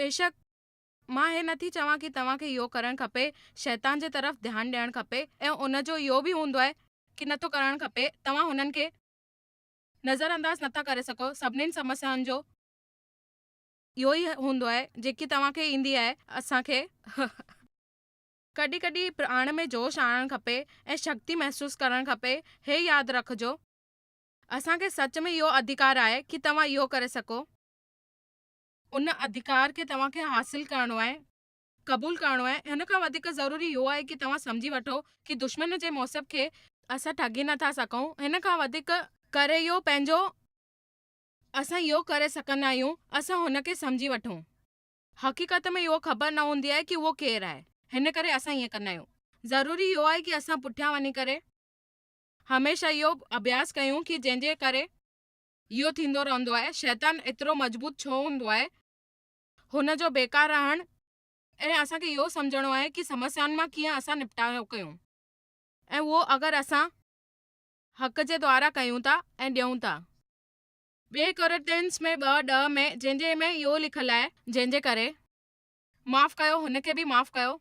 بيشڪ مان هي نٿي چوان ڪي توهان کي اهو ڪرڻ کپي، شيطان جي طرف ڌيان ڏيڻ کپي ۽ ان جو اهو به هوندو آهي. ڪي نٿو ڪرڻ کپي، توهان هنن کي نظرانداز نٿا ڪري سگهو سڀنين سمسيائن جو. اهو ئي هوندو آهي جيڪي توهان کي ايندي آهي اسان کي هه. ڪڏهن ڪڏهن پراڻ ۾ جوش آڻڻ کپي ۽ شڪتي محسوس ڪرڻ کپي هي ياد رکجو اسان کي سچ ۾ اهو اڌيڪار آهي ڪي توهان اهو ڪري سگهو. ان اڌيڪار کي توهان کي حاصل ڪرڻو آهي قبول ڪرڻو آهي ان کان وڌيڪ ضروري اهو آهي ڪي توهان سمجهي وٺو ڪي دشمن جي موسب کي. اسان ٺڳي نه ٿا سگهون هن کان وڌيڪ. ڪري اهو پنهنجو اسان اهو ڪري سگهندا آهيون، اسان هن کي سمجهي وٺون. حقيقت ۾ اهو خبر نه هوندي آهي ڪي اهو ڪير آهي. هن ڪري اسان ائين ڪندا آهيون. ضروري اهو آهي ڪي اسان پٺيان وڃي ڪري هميشه اهو اڀياس ڪيون ڪي جنهن جي ڪري. اهو ٿيندو رهندو آهي. شيطان ايترو مضبوط ڇو هوندو آهي. هن جو بيڪار رهڻ ۽ اسان کي اهو سمجهڻو آهي ڪي سمسيائن مان ڪيئن اسان نپٽاء ڪيون ۽ اهو اگر اسان. حق جي دعارا ڪيون ٿا ۽ ڏيون ٿا. ٻئي ڪورنٿينس ۾ ٻه ڏهه ۾ جنهن جي ۾ اهو لکيل آهي، جنهن جي ڪري. معاف ڪيو، هن کي به معاف ڪيو.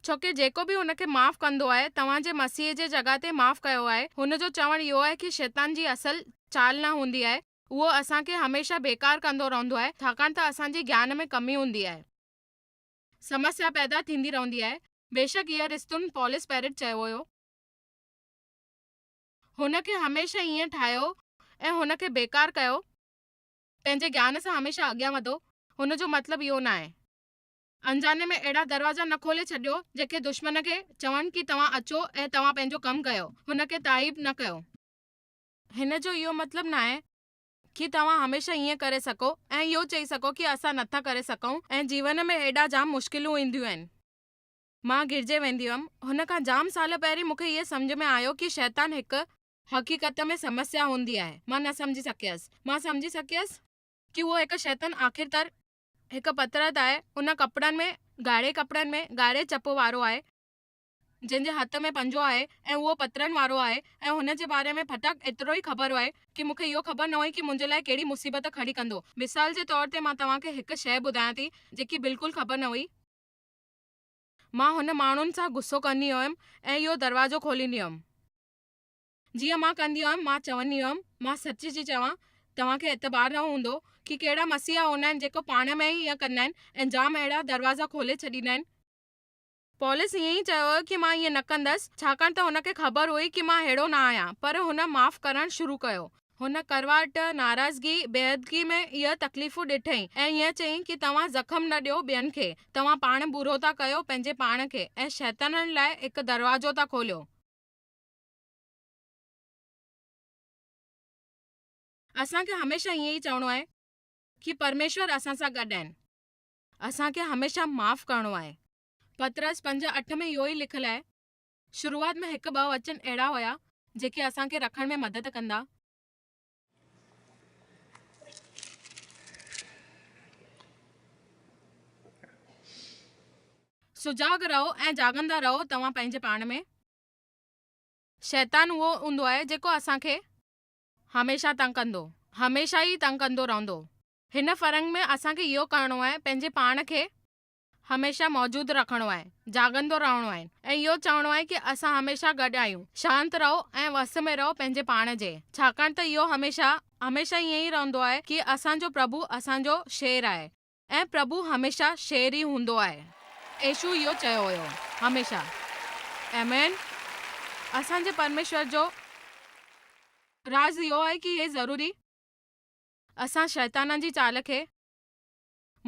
ڇوڪه جيڪو به هن کي معاف ڪندو آهي، توهان جي مسيح جي جڳهه تي معاف ڪيو آهي. هن جو چوڻ اهو آهي ڪي شيطان جي اصل چال نه هوندي آهي، اهو اسان کي هميشه بيڪار ڪندو رهندو آهي، ڇاڪاڻ ته اسان جي گيان ۾ ڪمي هوندي آهي. سمسيا پيدا ٿيندي رهندي آهي. بيشڪ اهي رستون پولس پيرٽ چيو هيو. هن کي هميشه ائين ٺاهيو ۽ هن کي بيڪار ڪيو. پنهنجي گيان سان هميشه اڳيان وڌو، هن جو مطلب اهو نه آهي. انجاني ۾ اهڙا دروازا نه کولي ڇڏيو جيڪي دشمن کي چون ڪي توهان اچو ۽ توهان پنهنجو ڪم ڪيو، هن کي تائيب نه ڪيو. هن جو اهو مطلب نه آهي ڪي توهان هميشه ائين ڪري سگهو ۽ اهو چئي سگهو ڪي اسان نٿا ڪري سگهون ۽ جيون ۾ اهڙا جام مشڪلون اينديون آهن. مان گرجي ويندي هئم. هن کان جام سال پهرين مون کي اهي سمجهه ۾ آيو ڪي شيطان هڪ. حقيقت ۾ سمسيا هوندي آهي. مان نه سمجهي سگهيس. مان سمجهي سگهيس. ڪي اهو هڪ شيطان آخر ڪار هڪ پترت آهي. ان ڪپڙن ۾، ڳاڙهي ڪپڙن ۾، ڳاڙهي چپ وارو آهي. جنهن جي هٿ ۾ پنجو آهي ۽ اهو پترن وارو آهي ۽ هن جي باري ۾ ڦٽڪ ايترو ئي خبر هئي ڪي مون کي اهو خبر نه هئي ڪي منهنجي لاء ڪهڙي مصيبت کڙي ڪندو. مثال جي طور تي مان توهان کي هڪ شيء ٻڌايان ٿي جيڪي بلڪل خبر نه هئي. مان هن ماڻهن سان غصو ڪندي هيم ۽ اهو دروازو کوليندي هيم. جيئن مان ڪندي هيم، مان چوندي هيم، مان سچ ٿي چوان، توهان کي اعتبار نه هوندو ڪي ڪهڙا مسيحا هوندا آهن جيڪو پاڻ ۾ ئي ائين ڪندا آهن ۽ جام اهڙا دروازا کولي ڇڏيندا آهن. پولس ائين ئي چيو هيو ڪي مان ائين نه ڪندس، ڇاڪاڻ ته هن کي خبر هئي ڪي مان ههڙو نه آهيان، پر هن معاف ڪرڻ شروع ڪيو. هن ڪڙواهٽ، ناراضگي، بيحدگي ۾ اهي تڪليفون ڏٺئي ۽ هيئن چيائين ڪي توهان زخم نه ڏيو ٻين کي، توهان پاڻ برو ٿا ڪيو پنهنجي پاڻ کي ۽ شيطانن لاء هڪ دروازو ٿا کوليو. اسان کي هميشه هيئن ئي چوڻو آهي ڪي پرميشور اسان سان گڏ آهن. اسان کي هميشه معاف ڪرڻو آهي. پطرس پنج اٺ ۾ اهو ئي لکيل آهي. شروعات ۾ هڪ ٻه وچن اهڙا هيا جيڪي اسان کي رکڻ ۾ مدد ڪندا. سجاڳ رهو ۽ جاڳندا رهو توهان پنهنجي پاڻ ۾. شيطان اهو هوندو آهي جيڪو اسان کي. هميشه تنگ ڪندو. هميشه ئي تنگ ڪندو رهندو. هن فرنگ ۾ اسان کي اهو ڪرڻو آهي پنهنجي پاڻ کي. هميشه موجود رکڻو آهي، جاڳندو رهڻو آهي ۽ اهو چوڻو آهي ڪي اسان هميشه گڏ آهيون، شانت رهو ۽ وس ۾ رهو پنهنجي پاڻ جي، ڇاڪاڻ ته اهو هميشه هميشه ائين ئي رهندو آهي ڪي اسان جو پرڀو اسان جو شير آهي ۽ پرڀو هميشه شير ئي هوندو آهي. ايشو اهو چيو هيو هميشه. آمين اسان جي پرميشور جو راز اهو آهي ڪي هي ضروري اسان شيطانن جي چال کي.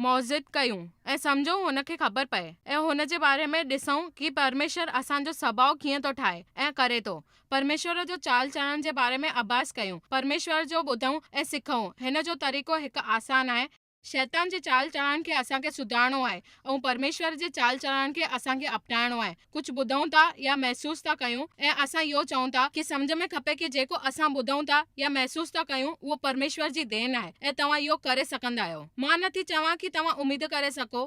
موجد ڪيون ۽ سمجهون هن کي خبر پئي ۽ هن جي باري ۾ ڏسون ڪي پرميشور اسان جو سڀاء ڪيئن ٿو ٺاهي ۽ ڪري ٿو پرميشور جو چال چلڻ جي باري ۾ اڀاس ڪيون پرميشور جو ٻڌون ۽ سکون هن جو طريقو هڪ آسان آهي شيطان جي چال چلڻ کي اسان کي سڌارڻو آهي ۽ پرميشور جي چال چلڻ کي اسان کي اپنائڻو آهي ڪجهه ٻڌون ٿا يا محسوس ٿا ڪيون ۽ اسان اهو چئون ٿا ڪي سمجهه ۾ کپي ڪي جيڪو اسان ٻڌون ٿا يا محسوس ٿا ڪيون اهو پرميشور جي دين آهي ۽ توهان اهو ڪري سگهندا آهيو مان نه ٿي چوان ڪي توهان اميد ڪري سگهو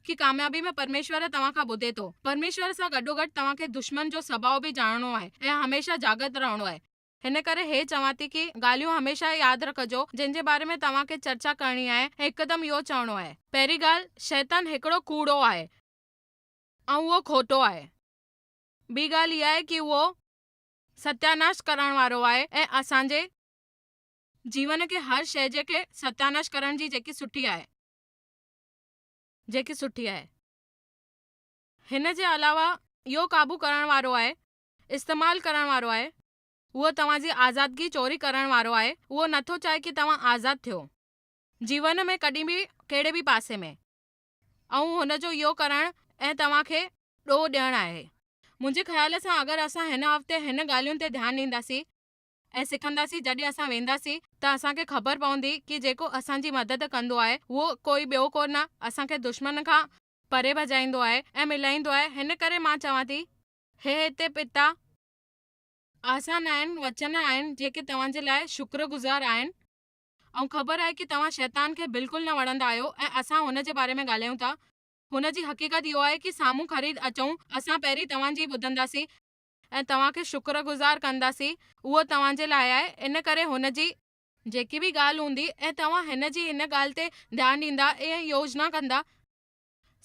ڪي ڪاميابي ۾ پرميشور توهان کان ٻڌي ٿو پرميشور سان گڏوگڏ توهان کي دشمن جو سڀاء به ڄاڻڻو آهي ۽ هميشه جاڳت رهڻو آهي. هن ڪري هي چوان ٿي ڪي ڳالهيون هميشه ياد رکجو جن جي باري ۾ توهان کي چرچا ڪرڻي آهي ۽ هڪدم اهو چوڻو آهي پهرين ڳالهه شيطان هڪڙو ڪوڙو آهي. ۽ اهو کوٽو آهي. ٻي ڳالهه اها آهي ڪي اهو ستياناش ڪرڻ وارو آهي ۽ اسان جي جيون کي هر شيء جي کي ستياناش ڪرڻ جي جيڪي سٺي آهي جيڪي سٺي آهي. هن جي علاوه اهو قابو ڪرڻ وارو آهي استعمال ڪرڻ وارو آهي اهو توهان جي آزادگي چوري ڪرڻ وارو آهي اهو نٿو چاهي ڪي توهان آزاد ٿيو جيون ۾ ڪڏهن به ڪهڙي به پاسي ۾. ۽ هن جو اهو ڪرڻ ۽ توهان کي ڏوهه ڏيڻ آهي. منهنجي خيال سان اگر اسان هن هفتي هن ڳالهين تي ڌيان ڏينداسين ۽ سکنداسين جڏهن اسان وينداسين ته اسان کي خبر پوندي ڪي جيڪو اسان جي مدد ڪندو آهي اهو ڪوئي ٻيو ڪو نه اسان کي دشمن کان پري ڀڄائيندو آهي ۽ ملائيندو آهي هن ڪري مان چوان ٿي هي هتي پتا آسان آهن وچن آهن جيڪي توهان جي لاء شڪر گذار آهن. ائون خبر آهي ڪي توهان شيطان کي بلڪل نه وڻندا آهيو ۽ اسان هن جي باري ۾ ڳالهايون ٿا هن جي حقيقت اهو آهي ڪي سامهون خريد اچون اسان پهرين توهان جي ئي ٻڌنداسين ۽ توهان کي شڪر گذار ڪنداسين اهو توهان جي لاء آهي ان ڪري هن جي. جيڪي به ڳالهه هوندي ۽ توهان هن جي هن ڳالهه تي ڌيان ڏيندا ۽ يوجنا ڪندا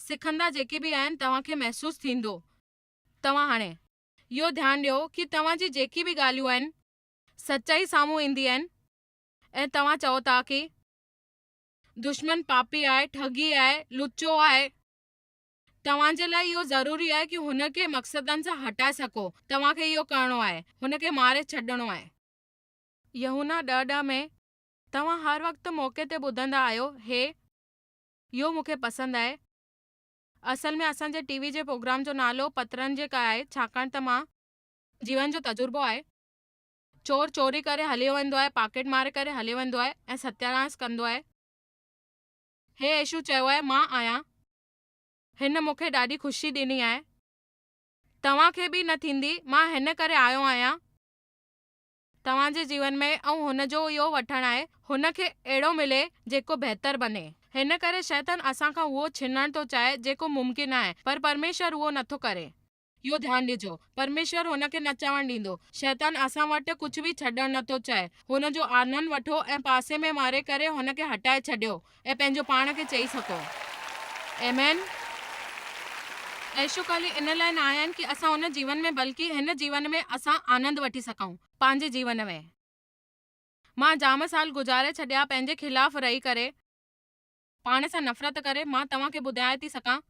سکندا جيڪي به آهن توهان کي محسوس ٿيندو توهان هاڻي اهو ڌيان ڏيو ڪي توهان جي جيڪي به ڳالهيون آهن سچائي سامهون ايندي آهن ۽ توهان چئو ٿا ڪي دشمن پاپي آهي ٺڳي آهي لچو آهي توهان جي لاء اهو ضروري آهي ڪي هن کي مقصدن سان هٽائي سگهو توهان کي اهو ڪرڻو آهي هن کي ماري ڇڏڻو آهي. يحنا ڏهه ڏهه ۾ توهان هر وقت موقعي تي ٻڌندا آهيو هي يو مون کي پسند آهي اصل ۾ اسان جي ٽي وي جي پروگرام جو نالو پترن جي ڪا آهي ڇاڪاڻ ته مان جيون جو تجربو آهي چور چوري ڪري هليو ويندو آهي، پاڪيٽ مار ڪري هليو ويندو آهي ۽ ستياناس ڪندو آهي. هي عيشو چيو آهي، مان آهيان. هن مون کي ڏاڍي خوشي ڏني آهي. توهان کي به نه ٿيندي. مان هن ڪري آيو آهيان توهان جي جيون ۾ ۽ هن جو اهو وٺڻ آهي هن کي اهڙو ملي جيڪو بهتر بني. هن ڪري شيطان اسان کان اهو ڇنڻ ٿو چاهي جيڪو ممڪن آهي پر پرميشور اهو نٿو ڪري. اهو ڌيان ڏجو، پرميشور هن کي نه چوڻ ڏيندو. شيطان اسان وٽ ڪجهه به ڇڏڻ نه ٿو چاهي. هن جو آنن وٺو ۽ پاسي ۾ ماري ڪري هن کي هٽائي ڇڏيو ۽ پنهنجو پاڻ کي چئي سگهو. آمين. اهو خالي ان لاء نه آهن ڪي اسان ان جيون ۾ بلڪه هن جيون ۾ اسان آنند وٺي سگهون. پنهنجي جيون ۾. مان جام سال گذاري ڇڏيا پنهنجي خلاف رهي ڪري. پاڻ سان نفرت ڪري. مان توهان کي ٻڌايان ٿي سگهان.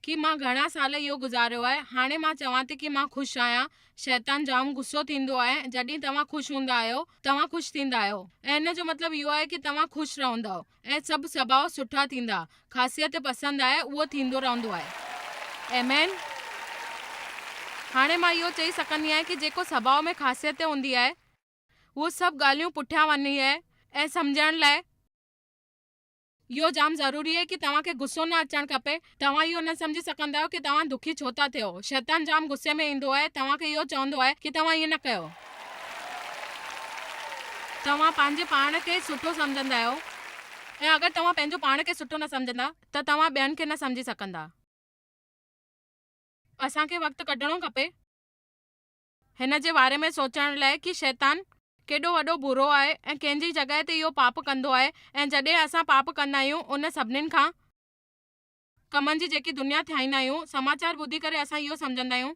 ڪي مان گهڻا سال اهو گذاريو آهي هاڻي مان چوان ٿي ڪي مان خوش آهيان شيطان جام غصو ٿيندو آهي جڏهين توهان خوش هوندا آهيو توهان خوش ٿيندا آهيو ۽ ان جو مطلب اهو آهي ڪي توهان خوش رهندؤ ۽ سڀ سڀاء سٺا ٿيندا خاصيت پسند آهي اهو ٿيندو رهندو آهي ايمين هاڻي مان اهو چئي سگهندي آهيان ڪي جيڪو سڀاء ۾ خاصيت هوندي آهي اهو سڀ ڳالهيون پٺيان وڃي آهي ۽ سمجهڻ لاء اهو جام ضروري آهي ڪي توهان کي غصو نه اچڻ کپي توهان اهو نه سمجهي سگهندا آهيو ڪي توهان دکي ڇو ٿا ٿيو شيطان جام غصي ۾ ايندو آهي توهان کي اهو چوندو آهي ڪي توهان ائين نه ڪيو توهان پنهنجي پاڻ کي سٺو سمجهندا آهيو ۽ اگر توهان پنهنجو پاڻ کي سٺو نه سمجهندا ته توهان ٻين کي نه سمجهي سگهندا اسان کي وقت ڪڍڻو کپي. هن جي باري ۾ سوچڻ لئه ڪي شيطان ڪيڏو وڏو برو آهي ۽ ڪنهن جي جڳهه تي اهو پاپ ڪندو آهي ۽ جڏهن اسان پاپ ڪندا آهيون ان سڀنين کان ڪمن جي جيڪي دنيا ٿيائيندا آهيون سماچار ٻڌي ڪري اسان اهو سمجهندا آهيون.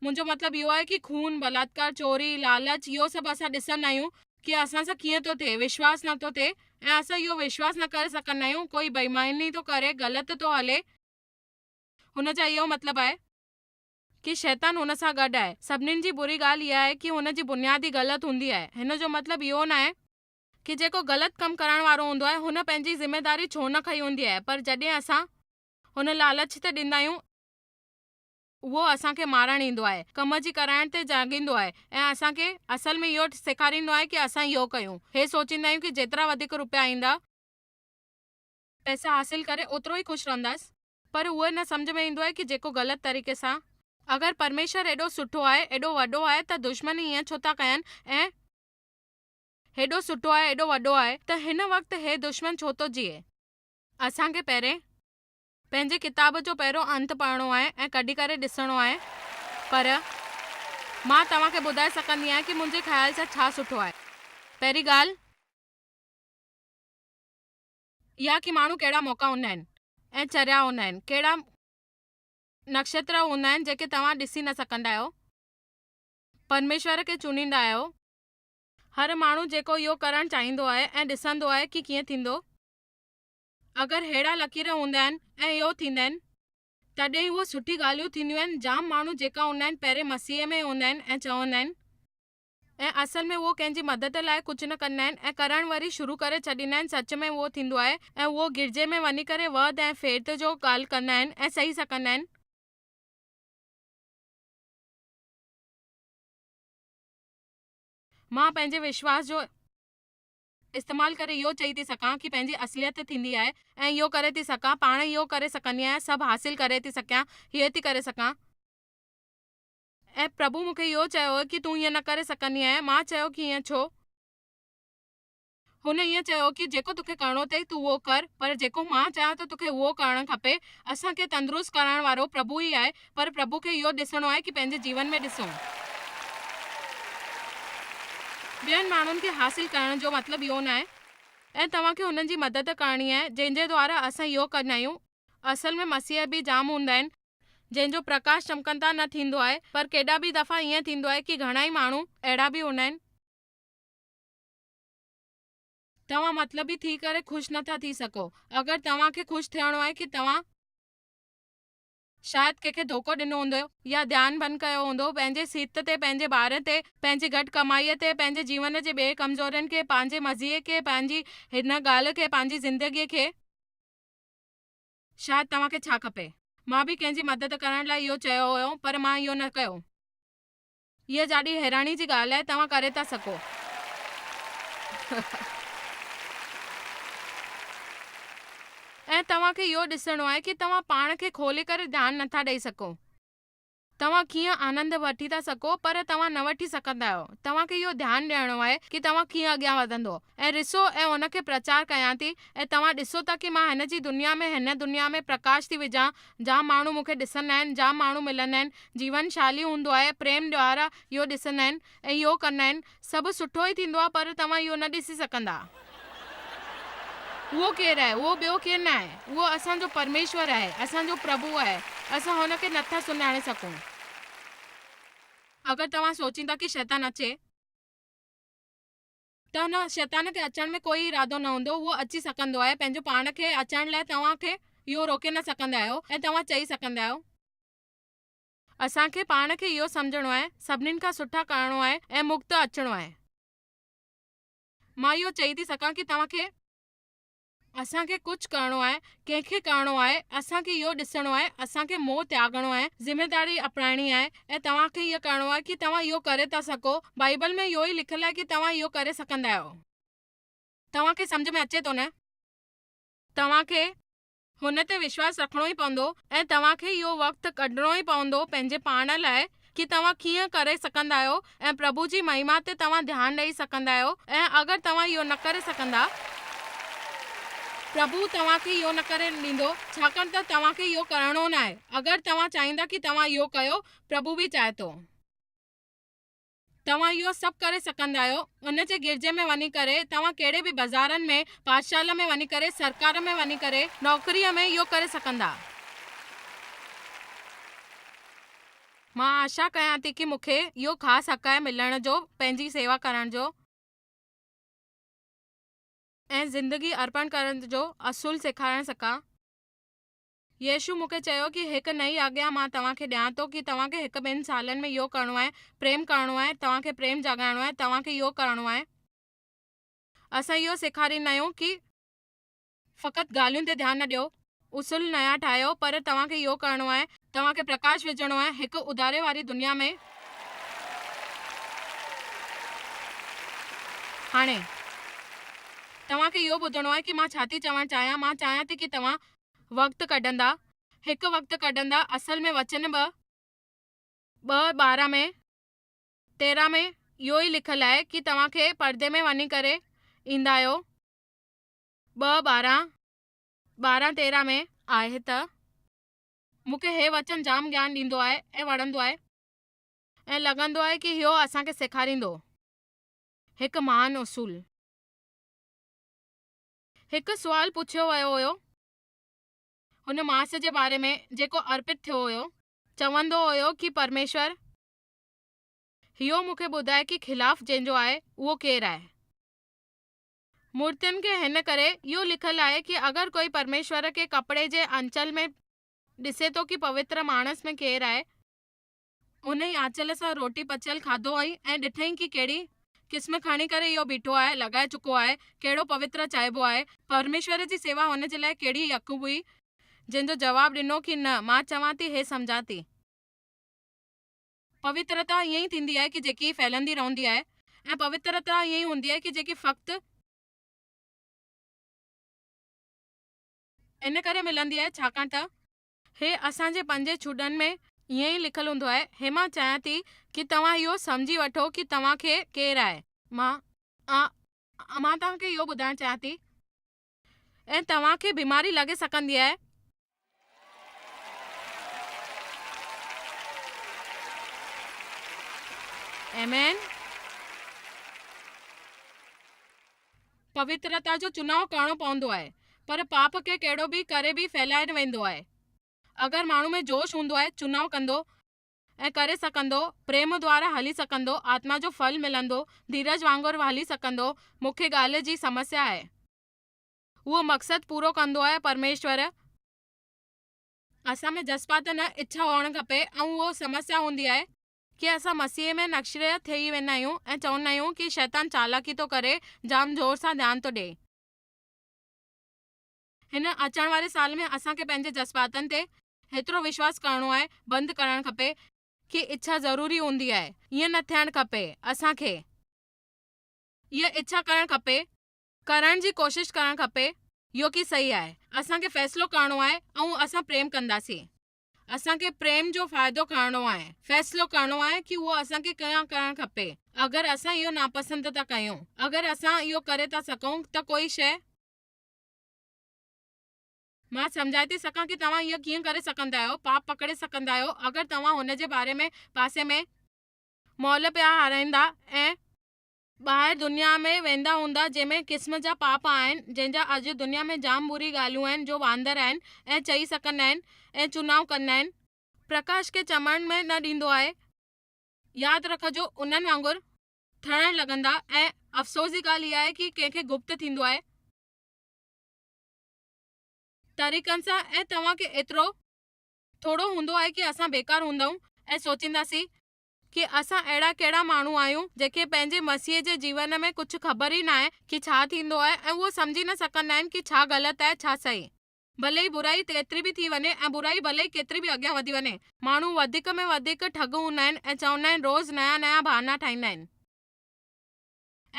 منهنجو مطلب اهو آهي ڪي خون، بلاتڪار، چوري، لالچ اهو سڀ اسان ڏسندا آهيون ڪي اسان سان ڪيئن ٿو ٿئي وشواس نه ٿو ٿئي ۽ اسان اهو وشواس نه ڪري سگهندا آهيون ڪوئي بيماني ٿو ڪري غلط ٿو هلي هن جا اهو مطلب آهي. ڪي شيطان هن سان گڏ آهي. سڀنين جي بري ڳالهه اها آهي ڪي هن جي بنياد ئي غلط هوندي آهي. هن جو مطلب اهو نه آهي. ڪي جيڪو غلط ڪم ڪرڻ وارو هوندو آهي هن پنهنجي ذميداري ڇو نه کنئي هوندي آهي پر جڏهن اسان هن لالچ تي ڏيندا آهيون اهو اسان کي مارڻ ايندو آهي ڪم جي ڪرائڻ تي جاڳيندو آهي ۽ اسان کي اصل ۾ اهو سيکاريندو آهي ڪي اسان اهو ڪيون هي سوچيندا آهيون ڪي جيترا وڌيڪ روپيا ايندا. پئسا حاصل ڪري اوترو ئي خوش رهنداس. پر اهو نه سمجهه ۾ ايندو آهي ڪي جيڪو غلط طريقي سان. اگر پرميشور ايڏو سٺو آهي، ايڏو وڏو آهي ته دشمن ائين ڇو ٿا ڪين ۽ هيڏو سٺو آهي، ايڏو وڏو آهي ته هن وقت هي دشمن ڇو ٿو جيئي؟ اسان کي پهرين پنهنجي ڪتاب جو پهريون انت پڙهڻو آهي ۽ ڪڍي ڪري ڏسڻو آهي پر مان توهان کي ٻڌائي سگهندي آهيان ڪي منهنجي خيال سان ڇا سٺو آهي. پهرين ڳالهه. يا ڪي ماڻهو ڪهڙا موقعا هوندا آهن ۽ چريا هوندا آهن، ڪهڙا نڪشتر هوندا آهن جيڪي توهان ڏسي نه سگهندا آهيو، پرميشور کي چونڊيندا آهيو. هر ماڻهو جيڪو اهو ڪرڻ چاهيندو آهي ۽ ڏسندو آهي ڪي ڪيئن ٿيندو، اگر ههڙا لڪير هوندا آهن ۽ اهو ٿيندا آهن تڏهن ئي اهو سٺي ڳالهيون ٿينديون آهن، جام ماڻهو جيڪا هوندا آهن پهرين مسيح ۾ هوندا آهن ۽ چوندا آهن ۽ اصل ۾ اهو ڪنهن جي مدد لاء ڪجهه نه ڪندا آهن ۽ ڪرڻ وري شروع ڪري ڇڏيندا آهن سچ ۾ اهو ٿيندو آهي ۽ اهو گرجي ۾ وڃي ڪري وعد ۽ فيرت جو ڳالهه ڪندا آهن ۽ سهي سڪندا آهن. مان پنهنجي وشواس جو استعمال ڪري اهو چئي ٿي سگهان ڪي پنهنجي اصليت ٿيندي آهي ۽ اهو ڪري ٿي سگهان پاڻ اهو ڪري سگهندي آهيان سڀ حاصل ڪري ٿي سگهيان هيء ٿي ڪري سگهان. ۽ پرڀو مون کي اهو چيو هو ڪي تون ائين نه ڪري سگهندي آهين. مان چيو ڪي ائين ڇو؟ هن ائين چيو ڪي جيڪو توکي ڪرڻو اٿئي تون اهو ڪر پر جيڪو مان چاهيان ٿو توکي اهو ڪرڻ کپي. اسان کي تندرست ڪرائڻ وارو پرڀو ئي آهي پر پرڀو کي اهو ڏسڻو آهي ڪي پنهنجي جيون ۾ ڏسون. ٻين ماڻهن کي حاصل ڪرڻ جو مطلب اهو نه آهي. ۽ توهان کي انهن جي مدد ڪرڻي آهي جنهن جي دوارا اسان اهو ڪندا آهيون. اصل ۾ مسيح به جام هوندا آهن، جن جو پرڪاش چمڪن تان نه ٿيندو آهي، پر ڪيڏا به دفعا ائين ٿيندو آهي ڪي گهڻائي ماڻهو اهڙا به هوندا آهن. توهان مطلبي ٿي ڪري خوش نه ٿا ٿي سگهو اگر توهان کي خوش ٿيڻو آهي ڪي توهان. شايد ڪنهن کي ڌوڪو ڏنو هوندو يا ڌيان ڀن ڪيو هوندو پنهنجي صحت تي پنهنجي ٻارن تي پنهنجي گهٽ ڪمائي تي پنهنجي جيون جي ٻئي ڪمزورين کي پنهنجي مزي کي پنهنجي هن ڳالهه کي پنهنجي زندگي کي شايد توهان کي ڇا کپي؟ مان به ڪنهن جي مدد ڪرڻ لاء اهو چيو هيو پر مان اهو نه ڪيو. اها جاڏي حيراني جي ڳالهه آهي، توهان ڪري ٿا سگهو. ۽ توهان کي اهو ڏسڻو آهي ڪي توهان پاڻ کي کولي ڪري ڌيان نٿا ڏئي سگهو. توهان ڪيئن آنند وٺي ٿا سگهو پر توهان نه وٺي سگهندا آهيو. توهان کي اهو ڌيان ڏيڻو آهي ڪي توهان ڪيئن اڳيان وڌندو ۽ رسو ۽ ان کي پرچار ڪيان ٿي ۽ توهان ڏسو ٿا ڪي مان هن جي دنيا ۾ هن دنيا ۾ پرڪاش ٿي وجهان جام ماڻهو مون کي ڏسندا آهن جام ماڻهو ملندا آهن جيون شالي هوندو آهي پريم ڏيارا اهو ڏسندا آهن ۽ اهو ڪندا آهن. سڀ سٺو ئي ٿيندو آهي پر توهان اهو نه ڏسي سگهندا. اهو ڪير آهي؟ اهو ٻيو ڪير نه آهي. اهو اسان جو پرميشور آهي. اسان جو پرڀو آهي. اسان هن کي نه ٿا سڃاڻي سگهون. اگر توهان سوچين ٿا ڪي شيطان اچي. ته هن، شيطان، کي اچڻ ۾ ڪوئي ارادو نه هوندو. اهو اچي سگهندو آهي. پنهنجو پاڻ کي اچڻ لاء توهان کي اهو روڪي نه سگهندا آهيو ۽ توهان چئي سگهندا آهيو. اسان کي پاڻ کي اهو سمجهڻو آهي سڀنين کان سٺا ڪرڻو آهي ۽ مڳ ته اچڻو آهي. مان اهو چئي ٿي سگهان ڪي توهان کي. اسان کي ڪجهه ڪرڻو آهي، ڪنهن کي ڪرڻو آهي، اسان کي اهو ڏسڻو آهي، اسان کي موهه تياڳڻو آهي، ذميداري اپرائڻي آهي ۽ توهان کي اهو ڪرڻو آهي ڪي توهان اهو ڪري ٿا سگهو، بائيبل ۾ اهو ئي لکيل آهي ڪي توهان اهو ڪري سگهندا آهيو. توهان کي سمجهه ۾ اچي ٿو نه؟ توهان کي هن تي وشواس رکڻو ئي پوندو ۽ توهان کي اهو وقت ڪڍڻو ئي پوندو پنهنجي پاڻ لاء ڪي توهان ڪيئن ڪري سگهندا آهيو ۽ پرڀو جي مهما تي توهان ڌيان ڏئي سگهندا آهيو ۽ اگر توهان اهو نه ڪري سگهندا پرڀو توهان کي اهو نه ڪرڻ ڏيندو ڇاڪاڻ ته توهان کي اهو ڪرڻو ناهي اگر توهان چاهيندا ڪي توهان اهو ڪيو پرڀو به چاهي ٿو. توهان اهو سڀ ڪري سگهندا آهيو، ان جي گرجي ۾ وڃي ڪري، توهان ڪهڙي به بازارن ۾، پاٺشالا ۾ وڃي ڪري، سرڪار ۾ وڃي ڪري، نوڪريء ۾ اهو ڪري سگهندا. مان آشا ڪيان ٿي ڪي مون کي اهو خاص حق آهي ملڻ جو، پنهنجي سيوا ڪرڻ جو. ۽ زندگي ارپڻ ڪرڻ جو اصول سيکارڻ سگهان. يسوع مون کي چيو ڪي هڪ نئين آگيا مان توهان کي ڏيان ٿو ڪي توهان کي هڪ ٻن سالن ۾ اهو ڪرڻو آهي پريم ڪرڻو آهي توهان کي پريم جاڳائڻو آهي توهان کي اهو ڪرڻو آهي اسان اهو سيکاريندا آهيون ڪي فقط ڳالهين تي ڌيان نه ڏيو اصول نيا ٺاهيو پر توهان کي اهو ڪرڻو آهي توهان کي پرڪاش وجهڻو آهي هڪ اڌاري واري دنيا ۾ هاڻي توهان کي اهو ٻڌڻو آهي ڪي مان ڇا ٿي چوڻ چاهيان مان چاهيان ٿي ڪي توهان. وقت ڪڍندا، هڪ وقت ڪڍندا، اصل ۾ وچن ٻه، ٻه ٻارهن ۾ تيرهن ۾ اهو ئي لکيل آهي ڪي توهان کي پردي ۾ وڃي ڪري ايندا آهيو ٻه ٻارهن، ٻارهن تيرهن ۾. آهي ته مون کي هي وچن جام گيان ڏيندو آهي ۽ وڻندو آهي ۽ لڳندو آهي ڪي اهو اسان کي سيکاريندو هڪ مهان اصول. هڪ سوال پڇيو ويو هيو هن ماس جي باري ۾ جيڪو ارپت ٿيو هيو. چوندو هيو ڪي پرميشور هيو مون کي ٻڌاء ڪي خلاف جنهن جو آهي اهو ڪير آهي. مورتين کي هن ڪري اهو لکيل آهي ڪي اگر ڪوئي پرميشور کي ڪپڙي جي آنچل ۾ ڏسي ٿو ڪي پوتر ماڻس ۾ ڪير آهي. انهيء آنچل سان روٽي پچيل کاڌو هئي ۽ ڏٺئي ڪي ڪهڙي قسم کڻي ڪري اهو بيٺو آهي، لڳائي چڪو آهي، ڪهڙو پوتر چائبو آهي، پرميشور جي سيوا هن جي لاء ڪهڙي ئي اک هئي، جنهن جو جواب ڏنو ڪي نه، مان چوان ٿي هي سمجهان ٿي. پوترتا ائين ئي ٿيندي آهي ڪي جيڪي ڦهلندي رهندي آهي ۽ پوترتا ائين ئي هوندي آهي ڪي جيڪي فقط. ان ڪري ملندي آهي ڇاڪاڻ ته. هي اسان جي پنجين ڇوٽن ۾ ائين ئي لکيل هوندو آهي. هي مان چاهيان ٿي ڪي توهان اهو سمجهي وٺو ڪي توهان کي ڪير آهي. مان آ آ مان توهان کي اهو ٻڌائڻ چاهيان ٿي ۽ توهان کي بيماري لڳي سگهندي آهي. آمين. پوترتا جو چناء ڪرڻو پوندو آهي پر پاپ کي ڪهڙو به ڪري به ڦهلائي ويندو آهي. اگر ماڻهو ۾ جوش هوندو آهي چناء ڪندو ۽ ڪري سگهندو، پريم دوارا هلي سگهندو، آتما جو ڦل ملندو، ڌيرج وانگر هلي سگهندو، مکيه ڳالهه جي سمسيا آهي اهو مقصد پورو ڪندو آهي پرميشور، اسان ۾ جذبات نه اڇا هئڻ کپي ۽ اهو سمسيا هوندي آهي. کي اسان مسيح ۾ نشريت ٿئي ويندا آهيون ۽ چوندا آهيون ڪي شيطان چالاڪي ٿو ڪري جام زور سان ڌيان ٿو ڏئي. هن اچڻ واري سال ۾ اسان کي پنهنجي جذباتن تي هيترو وشواس ڪرڻو آهي بند ڪرڻ کپي. کي اڇا ضروري هوندي آهي ائين نه ٿيڻ کپي اسان کي اها اڇا ڪرڻ کپي. ڪرڻ جي ڪوشش ڪرڻ کپي يو ڪي صحيح آهي اسان کي فيصلو ڪرڻو آهي ائون اسان پريم ڪنداسين. اسان کي پريم جو فائدو کڻڻو آهي، فيصلو ڪرڻو آهي ڪي اهو اسان کي ڪيئن ڪرڻ کپي. اگر اسان اهو ناپسند ٿا ڪيون، اگر اسان اهو ڪري ٿا سگهون ته ڪوئي شيء. مان سمجهائي ٿي سگهان ڪي توهان اهو ڪيئن ڪري سگهندا آهيو، پاپ پڪڙي سگهندا آهيو، اگر توهان هن جي باري ۾ پاسي ۾. مئل پيا هارائيندا ۽. ٻاهر دنيا ۾ ويندا هوندا جنهن ۾ قسم جا پاپ آهن جنهن جا اڄ دنيا ۾ جام بري ڳالهيون آهن جو واندر آهن ۽ چئي سڪندا آهن ۽ چونائون ڪندا آهن. پرڪاش کي چمڻ ۾ نه ڏيندو آهي. ياد رکجو انهن وانگر. ٿڙڻ لڳندا ۽ افسوس جي ڳالهه اها آهي ڪي ڪنهن کي گپت ٿيندو آهي. طريقن سان ۽ توهان کي ايترو. ٿورو هوندو آهي ڪي اسان بيڪار هوندائون ۽ سوچينداسين. ڪي اسان اهڙا ڪهڙا ماڻهو آهيون جيڪي پنهنجي مسيح جي جيون ۾ ڪجهه خبر ئي ناهي ڪي ڇا ٿيندو آهي ۽ اهو سمجهي نه سگهندا آهن ڪي ڇا غلط آهي ڇا صحيح. ڀلي ئي برائي ڪيتري به ٿي وڃي ۽ برائي ڀلي ئي ڪيتري به اڳيان وڌي وڃي ماڻهو وڌيڪ ۾ وڌيڪ ٺڳ هوندا آهن ۽ چوندا آهن روز نيا نيا بهانا ٺاهيندا آهن.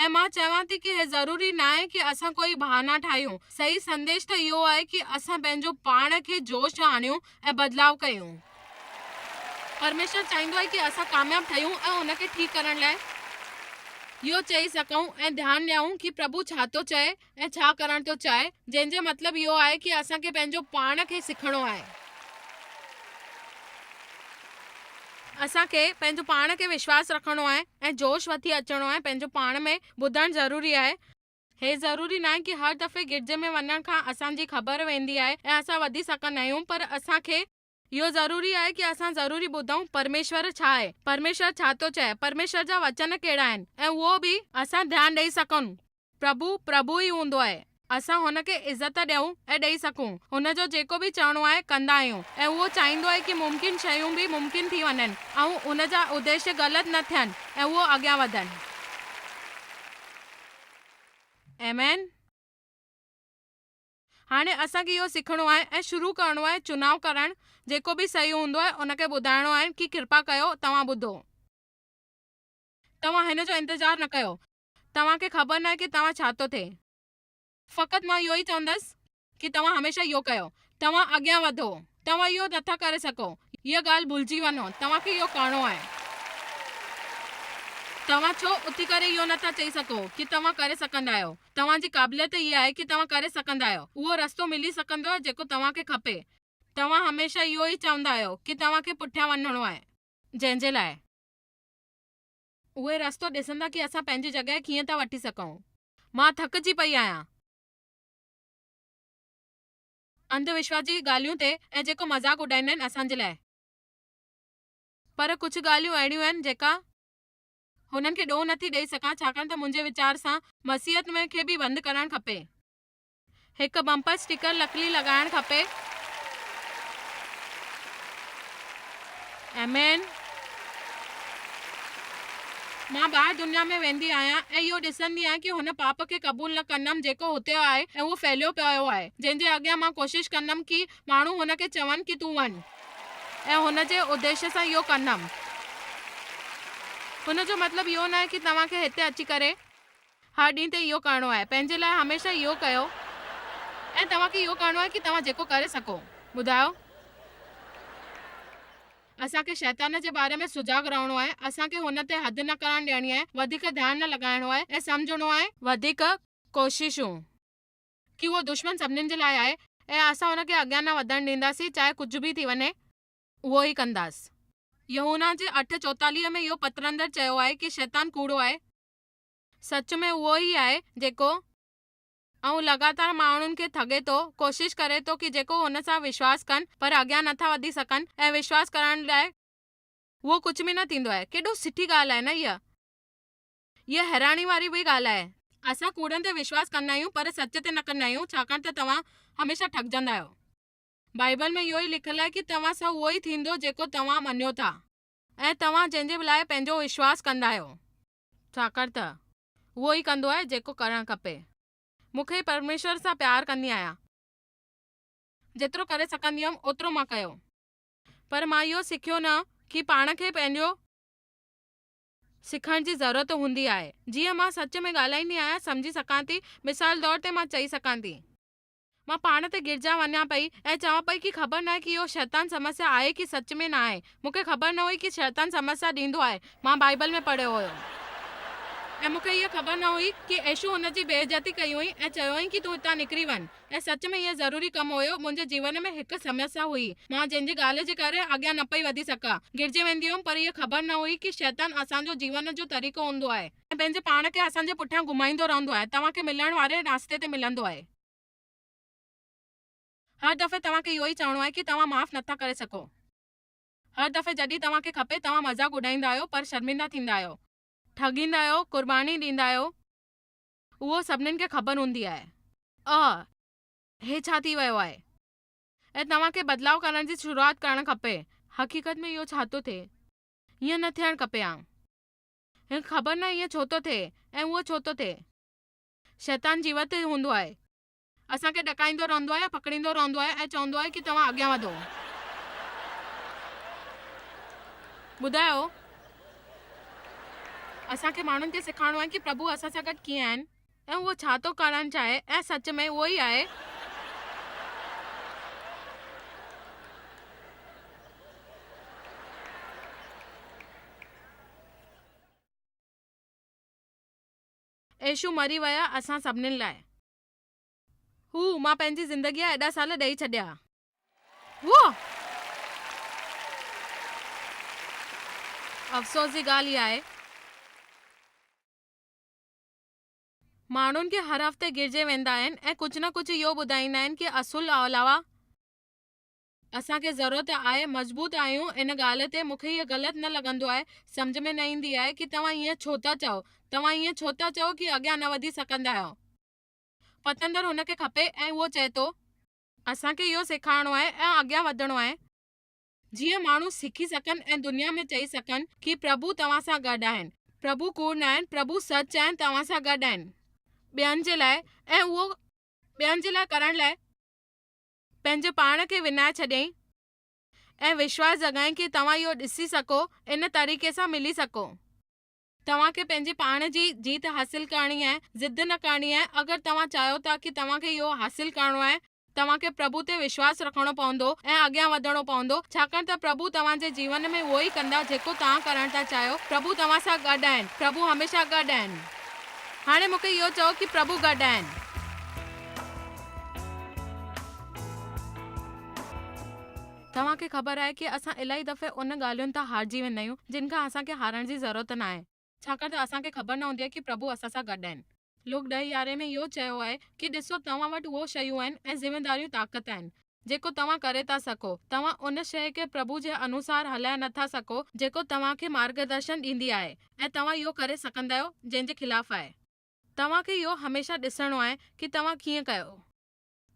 ۽ مان چوان ٿي ڪي هي ضروري ناهي ڪي اسان ڪوئي بهانا ٺاهيون صحيح سنديش ته اهو آهي ڪي اسان پنهنجو پاڻ کي جوش ۾ آڻيون ۽ بدلاء ڪيون. پرميشور چاهيندو آهي ڪي اسان ڪامياب ٺهيون ۽ ان کي ٺيڪ ڪرڻ لاء اهو چئي سگهون ۽ ڌيان ڏيائون ڪي پرڀو ڇا ٿو چئي ۽ ۽ ڇا ڪرڻ ٿو چاهي جنهن جو مطلب اهو آهي ڪي اسان کي پنهنجو پاڻ کي سکڻو آهي. اسان کي پنهنجو پاڻ کي وشواس رکڻو آهي ۽ جوش وٺي اچڻو آهي پنهنجو پاڻ ۾ ٻڌڻ ضروري آهي. هي ضروري ناهي ڪي هر دفعي گرجي ۾ وڃڻ کان اسان جي خبر ويندي آهي ۽ اسان وڌي سگهندا آهيون پر اسان کي. اهو ضروري آهي ڪي اسان ضروري ٻڌون پرميشور ڇا آهي، پرميشور ڇا ٿو چئي، پرميشور جا وچن ڪهڙا آهن ۽ اهو به اسان ڌيان ڏئي سگهون. پرڀو، پرڀو ئي هوندو آهي. اسان هن کي عزت ڏيون ۽ ڏئي سگهون. هن جو جيڪو به چئڻو آهي ڪندا آهيون ۽ اهو چاهيندو آهي ڪي ممڪن شيون به ممڪن ٿي وڃن ۽ ان جا اديشي غلط نه ٿين ۽ اهو اڳيان وڌن. آمين. هاڻي اسان کي اهو سکڻو آهي ۽ شروع ڪرڻو آهي چناء ڪرڻ جيڪو به صحيح هوندو آهي ان کي ٻڌائڻو آهن ڪي ڪرپا ڪيو توهان ٻڌو توهان هن جو انتظار نه ڪيو توهان کي خبر ناهي ڪي توهان ڇا ٿو ٿئي فقط مان اهو ئي چوندس ڪي توهان هميشه اهو ڪيو توهان اڳيان وڌو توهان اهو نه ٿا ڪري سگهو هيء ڳالهه ڀلجي وڃو توهان کي اهو ڪرڻو آهي توهان ڇو اٿي ڪري اهو نه ٿا چئي سگهو ڪي توهان ڪري سگهندا آهيو توهان جي قابليت اها آهي ڪي توهان ڪري سگهندا آهيو. اهو رستو ملي سگهندو آهي جيڪو توهان کي کپي. توهان هميشه اهو ئي چوندا آهيو ڪي توهان کي پٺيان وڃڻو آهي. جنهن جي لاء. اهي رستو ڏسندا ڪي اسان پنهنجي جڳهه ڪيئن ٿا وٺي سگهون. مان ٿڪجي پئي آهيان. انڌ وشواس جي ڳالهيون تي ۽ جيڪو مذاق اڏائيندا آهن اسان جي لاء. پر ڪجهه ڳالهيون اهڙيون آهن جيڪا. هنن کي ڏوهه نٿي ڏئي سگهان ڇاڪاڻ ته منهنجي ويچار سان مسيحت ۾ کي به بند ڪرڻ کپي. هڪ بمپر اسٽيڪر لڪلي لڳائڻ کپي. آمين. مان ٻاهر دنيا ۾ ويندي آهيان ۽ اهو ڏسندي آهيان ڪي هن پاپ کي قبول نه ڪندم جيڪو هتي آهي ۽ اهو ڦهليو پيو آهي جنهن جي اڳيان مان ڪوشش ڪندم ڪي ماڻهو هن کي چون ڪي تون وڃ ۽ هن جي اديش سان اهو ڪندم. هن جو مطلب اهو ناهي ڪي توهان کي هتي اچي ڪري هر ڏينهن تي اهو ڪرڻو آهي. پنهنجي لاء هميشه اهو ڪيو ۽ توهان کي اهو ڪرڻو آهي ڪي توهان جيڪو ڪري سگهو. ٻڌايو. اسان کي شيطان جي باري ۾ سجاڳ رهڻو آهي. اسان کي هن تي حد نه ڪرڻ ڏيڻي آهي. وڌيڪ ڌيان نه لڳائڻو آهي ۽ سمجهڻو آهي. وڌيڪ ڪوششون. ڪي اهو دشمن سڀنين جي لاء آهي ۽ اسان ان کي اڳيان نه وڌڻ ڏينداسين چاهي ڪجهه به ٿي وڃي اهو ئي ڪنداس. يوحنا جي اٺ چوتاليهه ۾ اهو پتر اندر چيو آهي ڪي شيطان ڪوڙو آهي. سچ ۾ اهو ئي آهي جيڪو ائون لڳاتار ماڻهن کي ٺڳي ٿو ڪوشش ڪري ٿو ڪي جيڪو هن سان وشواس ڪن پر اڳيان نه ٿا وڌي سگهن ۽ وشواس ڪرڻ لاء اهو ڪجهه به نه ٿيندو آهي ڪيڏو سٺي ڳالهه آهي نه اها. اها حيراني واري به ڳالهه آهي. اسان ڪوڙن تي وشواس ڪندا آهيون پر سچ تي نه ڪندا آهيون ڇاڪاڻ ته توهان هميشه ٺڳجندا آهيو. بائيبل ۾ اهو ئي لکيل آهي ته توهان سان اهو ئي ٿيندو جيڪو توهان مڃيو ٿا ۽ توهان جنهن جي لاء پنهنجو وشواس ڪندا آهيو ڇاڪاڻ ته اهو ئي ڪندو آهي جيڪو ڪرڻ کپي. مون کي پرميشور سان پيار ڪندي آهيان. جيترو ڪري سگهندي هيم اوترو مان ڪيو. پر مان اهو سکيو نه ڪي پاڻ کي پنهنجو. سکڻ جي ضرورت هوندي آهي جيئن مان سچ ۾ ڳالهائيندي آهيان سمجهي سگهان ٿي مثال طور تي مان چئي سگهان ٿي. مان پاڻ تي گرجان وڃان پئي ۽ چوان پئي ڪي خبر ناهي ڪي اهو شيطان سمسيا آهي ڪي سچ ۾ ناهي مون کي خبر نه هئي ڪي شيطان سمسيا ڏيندو آهي مان بائيبل ۾ پڙهيو هيو ۽ مون کي اها خبر نه هئي ڪي ايشو هن جي بي عزتي ڪئي هئي ۽ چيوئين ڪي تون هتان نڪري وڃ ۽ سچ ۾ اهو ضروري ڪم هيو. منهنجي جيون ۾ هڪ سمسيا هئي. مان جنهن جي ڳالهه جي ڪري اڳيان نه پئي وڌي سگهان. گرجي ويندي هيم پر اها خبر نه هئي ڪي شيطان اسان جو جيون جو طريقو هوندو آهي. ۽ پنهنجي پاڻ کي اسان جي پٺيان گهمائيندو رهندو آهي. توهان کي ملڻ واري رستي تي ملندو آهي. هر دفعي توهان کي اهو ئي چوڻو آهي ڪي توهان معاف نٿا ڪري سگهو. هر دفعي جڏهن توهان کي کپي توهان مذاق اڏائيندا آهيو پر شرمندا ٿيندا آهيو. ٺڳيندا آهيو، قرباني ڏيندا آهيو. اهو سڀنين کي خبر هوندي آهي. اهه، هي ڇا ٿي ويو آهي؟ ۽ توهان کي بدلاء ڪرڻ جي شروعات ڪرڻ کپي. حقيقت ۾ اهو ڇا ٿو ٿئي؟ ائين نه ٿيڻ کپي ها. هن خبر نه ائين ڇو ٿو ٿئي ۽ اهو ڇو ٿو ٿئي. شيطان جيوت هوندو آهي. اسان کي ڏڪائيندو رهندو آهي، پڪڙيندو رهندو آهي ۽ چوندو آهي ڪي توهان اڳيان وڌو. ٻڌايو، اسان کي ماڻهن کي سکارڻو آهي ڪي پرڀو اسان سان گڏ ڪيئن آهن ۽ هو ڇا ٿو ڪرڻ چاهي ۽ سچ ۾ اهو ئي آهي. يسوع مري ويا اسان سڀنين لاء. هو، مان پنهنجي زندگيء جا ايڏا سال ڏئي ڇڏيا. هو. افسوس جي ڳالهه اها آهي. ماڻهن کي هر هفتي گرجي ويندا آهن ۽ ڪجهه نه ڪجهه اهو ٻڌائيندا آهن ڪي اصول علاوه. اسان کي ضرورت آهي مضبوط آهيون ان ڳالهه تي مون کي هيء غلط نه لڳندو آهي سمجهه ۾ نه ايندي آهي ڪي توهان ايئن ڇو ٿا چئو توهان ايئن ڇو ٿا چئو ڪي اڳيان نه وڌي سگهندا آهيو پتندر هن کي کپي ۽ هو چئي ٿو. اسان کي اهو سيکارڻو آهي ۽ اڳيان وڌڻو آهي. جيئن ماڻهو سکي سگهن ۽ دنيا ۾ چئي سگهن ڪي پرڀو توهان سان گڏ آهن پرڀو ڪوڙ ناهن پرڀو سچ آهن توهان سان گڏ آهن ٻين جي لاء ۽ اهو ٻين جي لاء ڪرڻ لاء. پنهنجي پاڻ کي وڃائي ڇڏيائين ۽ وشواس جڳائين ڪي توهان اهو ڏسي سگهو ان طريقي سان ملي سگهو. توهان کي پنهنجي پاڻ جي جيت حاصل ڪرڻي آهي ضد نه ڪرڻي آهي اگر توهان چاهيو ٿا ڪي توهان کي اهو حاصل ڪرڻو آهي توهان کي پرڀو تي وشواس رکڻو پوندو ۽ اڳيان وڌڻو پوندو ڇاڪاڻ ته پرڀو توهان جي جيون ۾ اهو ئي ڪندا جيڪو توهان ڪرڻ ٿا چاهيو پرڀو توهان سان گڏ آهن پرڀو هميشه گڏ آهن هاڻي مونکي اهو چئو ڪي پرڀو گڏ آهن. توهان کي خبر آهي ڪي اسان الاهي دفعي ان ڳالهين تان هارجي ويندا آهيون جن کان اسان کي هارڻ جي ضرورت ناهي. ڇاڪاڻ ته اسان کي خبر نه هوندي آهي ڪي پرڀو اسان سان گڏ آهن. لوڪ ڏهه يارهين ۾ اهو چيو آهي ڪي ڏسو توهان وٽ اهو شيون آهن ۽ ذميواريون طاقت آهن جيڪو توهان ڪري ٿا سگهو. توهان ان شيء کي پرڀو جي انوسار هلائي نه ٿا سگهو جيڪو توهان کي مارگدرشن ڏيندي آهي ۽ توهان اهو ڪري سگهندا آهيو جنهن جي خلاف آهي. توهان کي اهو هميشه ڏسڻو آهي ڪي توهان ڪيئن ڪيو.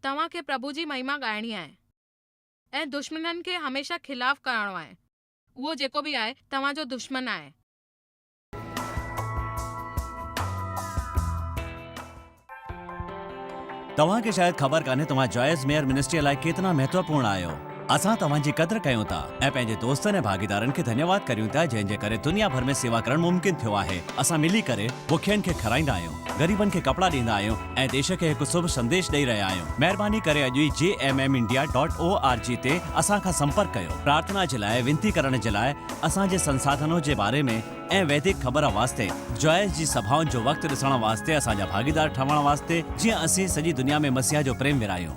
توهان کي پرڀو جي مهيما ڳائڻي آهي ۽ دشمنن کي هميشه خلاف ڪرڻو آهي. اهو جيڪو به آهي توهان جو دشمن آهي. توهان کي شايد خبر ڪانهي توهان جايز ميئر منسٽريء لاء ڪيترا مهتوپورڻ آهيو. اسان توهان جي قدر ڪيون ٿا ۽ پنهنجي دوستن ۽ ڀاڳيدارن کي ڌنيواد ڪريون ٿا جنهن جي ڪري دنيا ڀر ۾ سيوا ڪرڻ ممڪن ٿيو آهي. اسان ملي ڪري بکين کي کارائيندا آهيون، غريبن کي ڪپڙا ڏيندا آهيون ۽ ديش کي هڪ سڀ سنديش ڏئي رهيا آهيون. مهرباني ڪري اڄ ئي G M M India dot O R G تي اسان کان سمپرڪ ڪيو. پرارٿنا جي لاء وينتي ڪرڻ جي لاء اسان جي سنساڌنو جي باري ۾ ۽ ويدڪ خبر واسطي جوائس جي سڀائن جو وقت ڏسڻ واسطي اسان جا ڀاڳيدار ٺهڻ واسطي جيئن اسين سڄي دنيا ۾ مسيح جو پريم ورهايون.